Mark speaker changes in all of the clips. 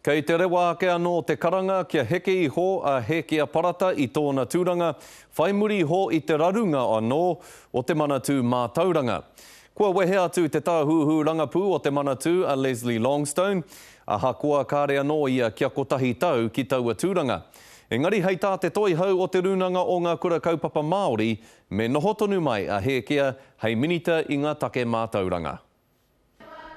Speaker 1: Kei te rewa ake anō te karanga kia heke iho a Hēkia Parata i tōna tūranga, whai muri iho i te rarunga anō o te Manatū Mātauranga. Kua wehe atu te tāhuhu rangapū o te Manatū a Leslie Longstone, ahakoa kāre anō ia kia kotahi tau ki taua tūranga. Engari hei tā te Toihau o Te Rūnanga o Ngā Kura Kaupapa Māori, me noho tonu mai a Hēkia hei Minita i ngā Take Mātauranga.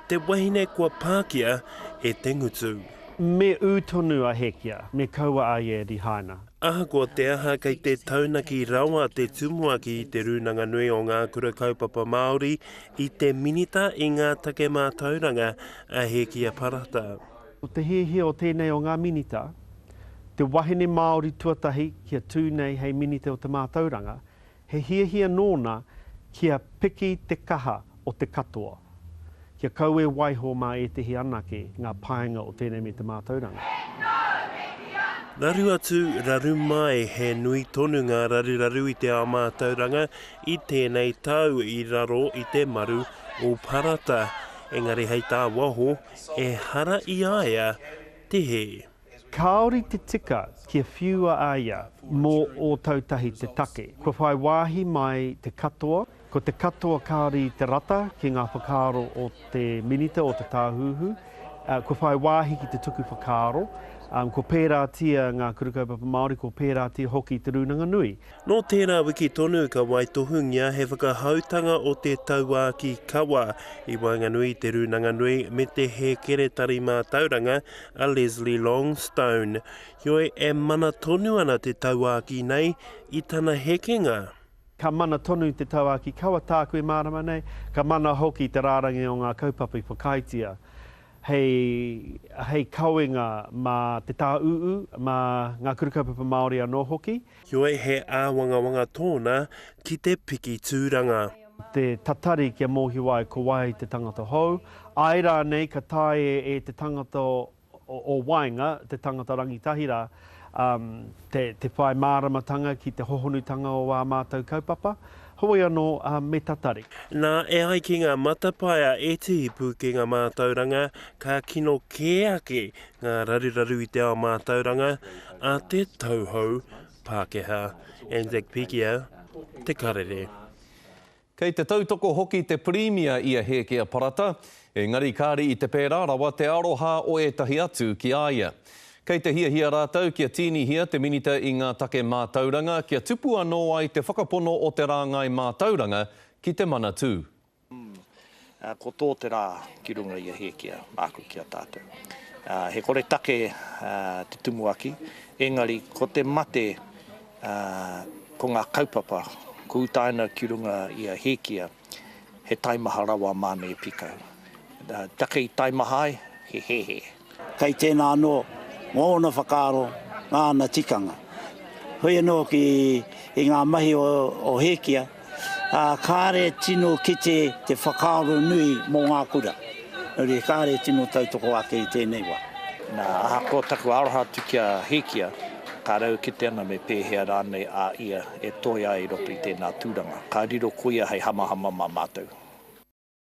Speaker 2: Te wahine kua pākia e Te Ngutu. Me ū
Speaker 3: tonu a Hekia, me kaua a ia e Rihaina. Ahakoa te aha
Speaker 2: kei te taunaki rawa te tumuaki i Te Rūnanga Nui o Ngā Kura Kaupapa Māori i te Minita i ngā Take Mātauranga a Hekia Parata. Ko te hiahia
Speaker 3: o tēnei o ngā Minita, te wahine Māori tuatahi kia tū nei hei Minita o te Mātauranga, He hiahia nōna kia piki te kaha o te katoa, kia kaue waiho mā ētehi anake ngā painga o tēnei me te mātauranga. Raru
Speaker 2: atu, raru mai, he nui tonu ngā raruraru i te ao mātauranga i tēnei tau i raro i te maru o Parata, engari hei tā waho, ehara i a ia te hē. Kāore te
Speaker 3: tika kia whiua a ia mō Ōtautahi te take. Kua whai wāhi mai te katoa, ko te katoa kāore i te rata ki ngā whakaaro o te Minita o te Tāhuhu, kua whai wāhi ki te tuku whakaaro, kua pērātia ngā Kura Kaupapa Māori, kua pērātia hoki te Rūnanga Nui. Nō tērā wiki
Speaker 2: tonu ka waitohungia he whakahautanga o te Tauākī Kawa i waenganui i Te Rūnanga Nui me te Hēkeretari Mātauranga a Leslie Longstone. Heoi, e mana tonu ana te tauākī nei i tana hekenga. Ka mana
Speaker 3: tonu te Tauākī Kawa tāku e mārama nei, ka mana hoki te rārangi o ngā kaupapa i whakaaetia hei hei kawenga mā te Tāuū, mā ngā Kura Kaupapa Māori anō hoki. Heoi he
Speaker 2: āwangawanga tōna ki te piki tūranga. Te tatari
Speaker 3: kia mōhio ai ko wai te tangata hou, āe rānei ka taea e te tangata o waenga, te tangata rangitahi rā, te whai māramatanga ki te hohonutanga o ā mātou kaupapa. Heoi anō, me tatari. Nā, e ai ki
Speaker 2: ngā matapae a Ētehi Pūkenga Mātauranga, ka kino kē ake ngā raruraru i te ao mātauranga a te tauhou Pākehā, Anzac Pikia, Te Karere. Kei
Speaker 1: te tautoko hoki te Pirimia i a Hēkea Parata, engari kāre i te pērā rawa te aroha o ētahi atu ki a ia. Kei te hiahia rātou kia tīnihia te Minita i ngā take mātauranga kia tupu anō ai te whakapono o te rāngai mātauranga ki te Manatū.
Speaker 4: Ā, ko tō te rā ki runga i a Hēkia, māku ki a tātou. Ā, he koretake, ā, te tumuaki, engari ko te mate, ā, ko ngā kaupapa, ko utaina ki runga i a Hēkia, he taimaha rawa māna e pīkau. Ā, take i taimaha ai, he hēhē. Kei tēnā
Speaker 5: anō ngōna whakaaro, ngāna tikanga. Hoi anō ki i ngā mahi o Hēkia, ā, kāre tino kite te whakaaro nui mō ngā kura. Nō reira, kāre tino tautoko ake i tēnei wā. Nā, ahakoa
Speaker 4: taku aroha atu ki a Hēkia, ka raukite ana me pēhea rānei a ia e toe ai i roto i tēnā tūranga. Ka riro ko ia hei hamahama mā mātou.